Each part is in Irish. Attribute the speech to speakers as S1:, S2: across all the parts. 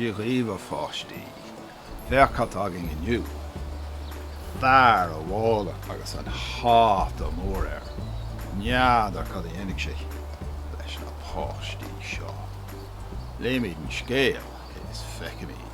S1: Dia dhaoibh a pháistí! Féach cad tá againn inniu! Fear an mhála agus an hata mór air. N'fheadar cad a dhéanfaidh sé leis na páistí seo. Léifimid an scéal is feicfimid.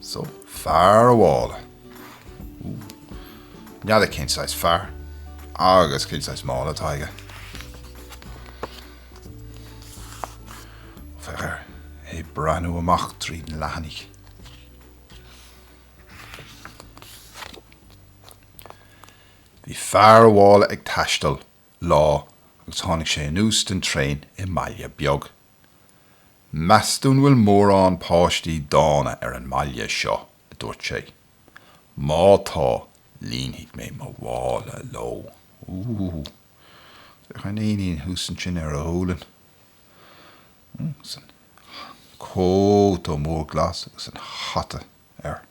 S1: So, fear an mhála. Ooh. N'fheadar cén saghas fear agus cén saghas mála atá aige. Féach air, é ag breathnú amach tríd na leathanaigh. Bhí fear an mhála ag taisteal, lá, agus tháinig sé anuas den traein i mbaile beag. Meas tú an bhfuil mórán páistí dána ar an mbaile seo, a dúirt sé. Má tá, líonfaidh mé mo mhála leo. Ooh. Féach an éinín thuas ansin ar a ghualainn. Agus an cóta mór glas agus an hata air.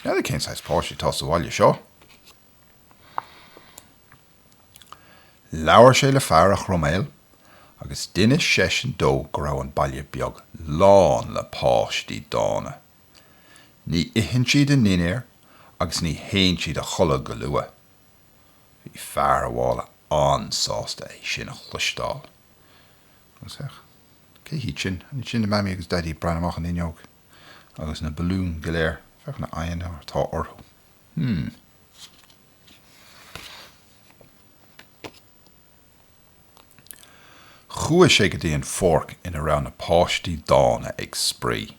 S1: N'fheadar cén saghas páistí atá sa bhaile seo. Labhair sé le fear an chroiméil agus d'inis seisean dó go raibh an baile beag lán le páistí dána. Ní itheann siad a ndinnéar agus ní théann siad a chodladh go luath. Bhí fear an mhála an-sásta é sin a chloisteáil. Agus cé hiad sin? An iad sin na Mamaí agus Daidí ag breathnú amach an fhuinneog agus na balúin go léir? Féach na aghaidheanna atá orthu. Chuaigh sé go dtí an pháirc ina raibh na páistí dána ag spraoi.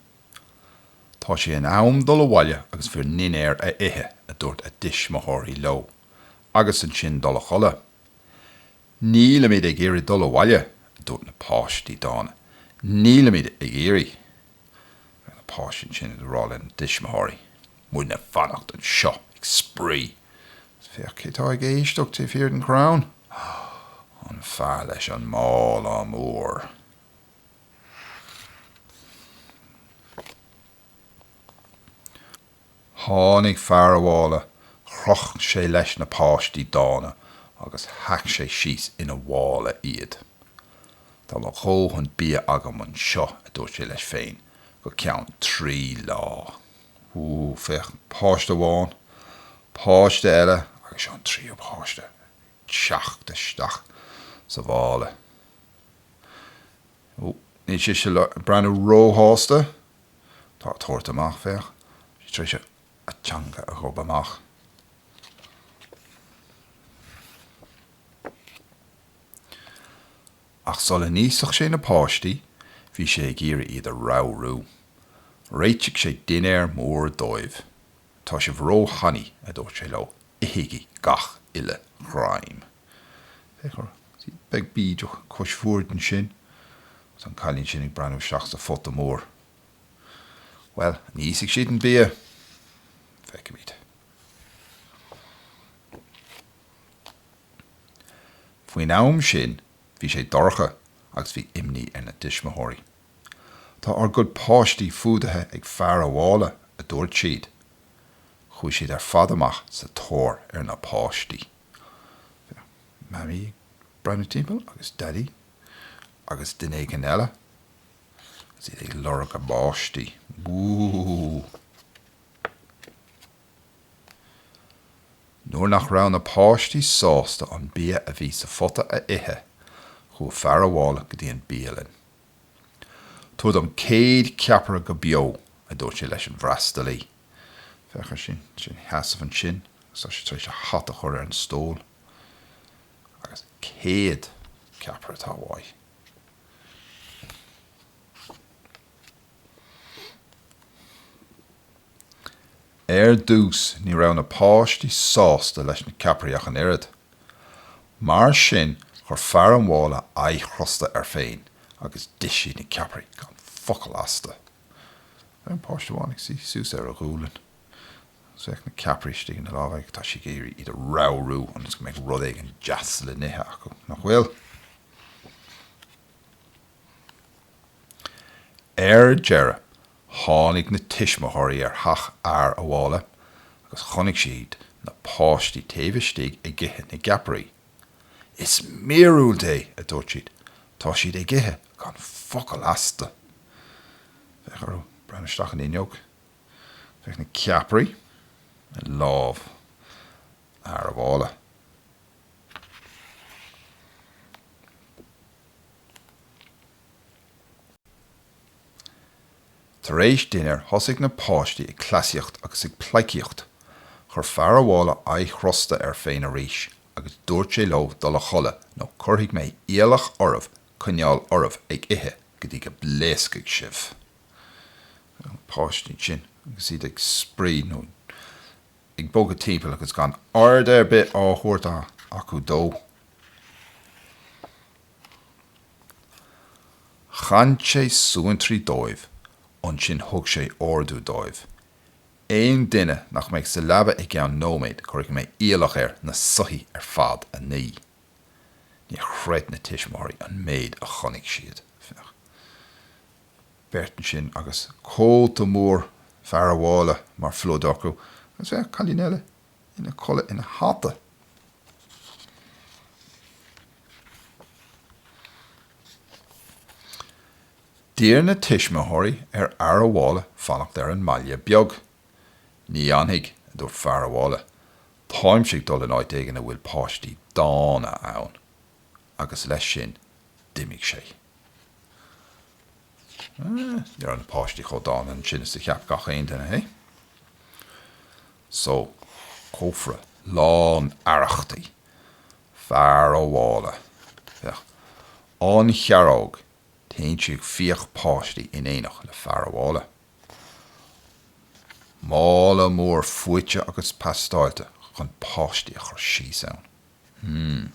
S1: Tá sé in am dul abhaile agus bhur ndinnéar a ithe, a dúirt a dtuismitheoirí leo, agus ansin dul a chodladh. Nílimid ag iarraidh dul abhaile, a dúirt na páistí dána, nílimid ag iarraidh. ar na páistí ansin ag rá lena dtuismitheoirí, muidne ag fanacht anseo ag spraoi agus féach cé tá ag éisteacht taobh thiar den chrann, an fear leis an mála mór! Tháinig fear an mhála, chroch sé leis na páistí dána agus shac sé síos ina mhála iad. Tá mo dhóthain bia agam anseo, a dúirt sé leis féin, go ceann trí lá. Ó, féach, páiste amháin, páiste eile agus seo an tríú páiste ag teacht isteach sa mhála. Ó, níl sise ag breathnú róshásta. Tá ag tabhairt amach, féach. Tá sí tar éis a teanga a ghob amach. Ach sula n-íosfadh sé na páistí, bhí sé ag iarraidh iad a ramhrú. Réitigh sé dinnéar mór dóibh. 'Tá sibh ró-thanaí, a dúirt sé leo, 'ithigí gach uile ghreim. Féach orthu. Buachaill bídeach cois boird ansin agus an cailín sin ag breathnú isteach sa phota mór. Bhuel, an íosfaidh siad an bia? Feicfimid. Faoin am sin bhí sé dorcha agus bhí imní ar na tuismitheoirí. Tá ár gcuid páistí fuadaithe ag fear a' mhála, a dúirt siad. Chuaigh siad ar fad amach sa tóir ar na páistí. Mamaí ag breathnú timpeall agus Daidí agus duine éigin eile agus iad ag lorg a bpáistí. Wúúúú. Nuair nach raibh na páistí sásta an bia a bhí sa phota a ithe, chuaigh fear a' mhála go dtí an bhialann. Tabhair dom céad ceapaire go beo, a dúirt sé leis an bhfreastalaí. Féach air ansin ina sheasamh ansin agus tá sé tar éis a hata a chur ar an stól. Agus céad ceapaire atá uaidh. Ar dtús ní raibh na páistí sásta leis na ceapairí ach an oiread. Mar sin chuir fear an mhála aghaidh chrosta air féin agus d'ith siad na ceapairí gan focal astu. Féach an páiste amháin ag suí suas ar a ghualainn agus na ceapairí istigh ina lámh aige. Tá sé ag iarraidh iad a ramhrú ionas go mbeidh rud éigin deas le n-ithe acu, nach bhfuil? Ar deireadh, tháinig na tuismitheoirí ar theach Fhear a' Mhála agus chonaic siad na páistí taobh istigh ag ithe na gceapairí. 'Is míorúilt é! a dúirt siad, 'tá siad ag ithe gan focal astu! Féach orthu ag breathnú isteach an fhuinneog. Féach na ceapairí i lámh Fhear a' Mhála. Tar éis dinnéir thosaigh na páistí ag cleasaíocht agus ag pleidhcíocht. Chuir fear a' mhála aghaidh chrosta air féin arís agus dúirt sé leo dul a chodladh nó cuirfidh mé iallach oraibh coinneáil oraibh ag ithe go dtí go bpléascfaidh sibh! Na páistí ansin agus iad ag spraoi nó ag bogadh timpeall agus gan aird ar bith á thabhairt acu dó. Chan sé suantraí dóibh, ansin thug sé ordú dóibh, aon duine nach mbeidh sa leaba i gceann nóiméad cuirfidh mé iallach air na soithí ar fad a ní. Níor chreid na tuismitheoirí an méid a chonaic siad, féach, beirt ansin agus cóta mór fear a' mhála mar phluid acu, agus féach, cailín eile ina codladh ina hata. D'iarr na tuismitheoirí ar fhear a' mhála fanacht ar an mBaile Beag. 'Ní fhanfaidh, a dúirt fear a' mhála, 'táimse ag dul in áit éigin a bhfuil páistí dána ann. Agus leis sin, d'imigh sé. Ní raibh na páistí chomh dána sin is a cheap gach aon duine, eh. So, cófra lán arrachtaí. Fear a' mhála. Féach. An chiaróg, téann sí ag fiach páistí in éineacht le fear a' mhála. Mála mór fuaite agus paisteáilte chun páistí a chur síos ann. Hmm.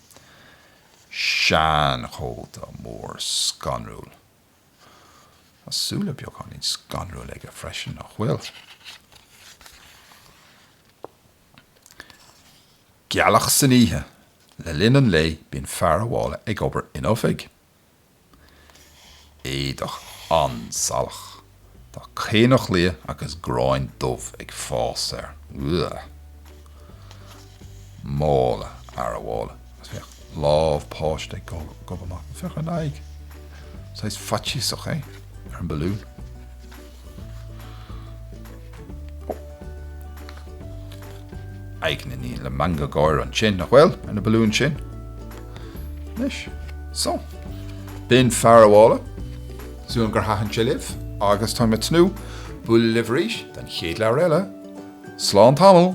S1: Seanchóta mór scanrúil. Tá súile beagáinín scanrúil aige freisin, nach bhfuil? Gealach san oíche. Le linn an lae bíonn fear a' mhála ag obair ina oifig. Éadach an-salach. Tá caonach liath agus grán dubh ag fás air. Ugh! Mála fhear a' mhála. Agus féach, lámh páiste ag gobadh amach. Féach an aghaidh. Saghas faitíosach, eh? Ar an balún. Aghaidheanna eile le meangadh gáire ansin, nach bhfuil, ar na balúin sin? Anois. So. B'in Fear a' Mhála. Súil agam gur thaitin sé libh, agus táim ag tnúth bualadh libh arís don chéad leabhar eile. Slán tamall!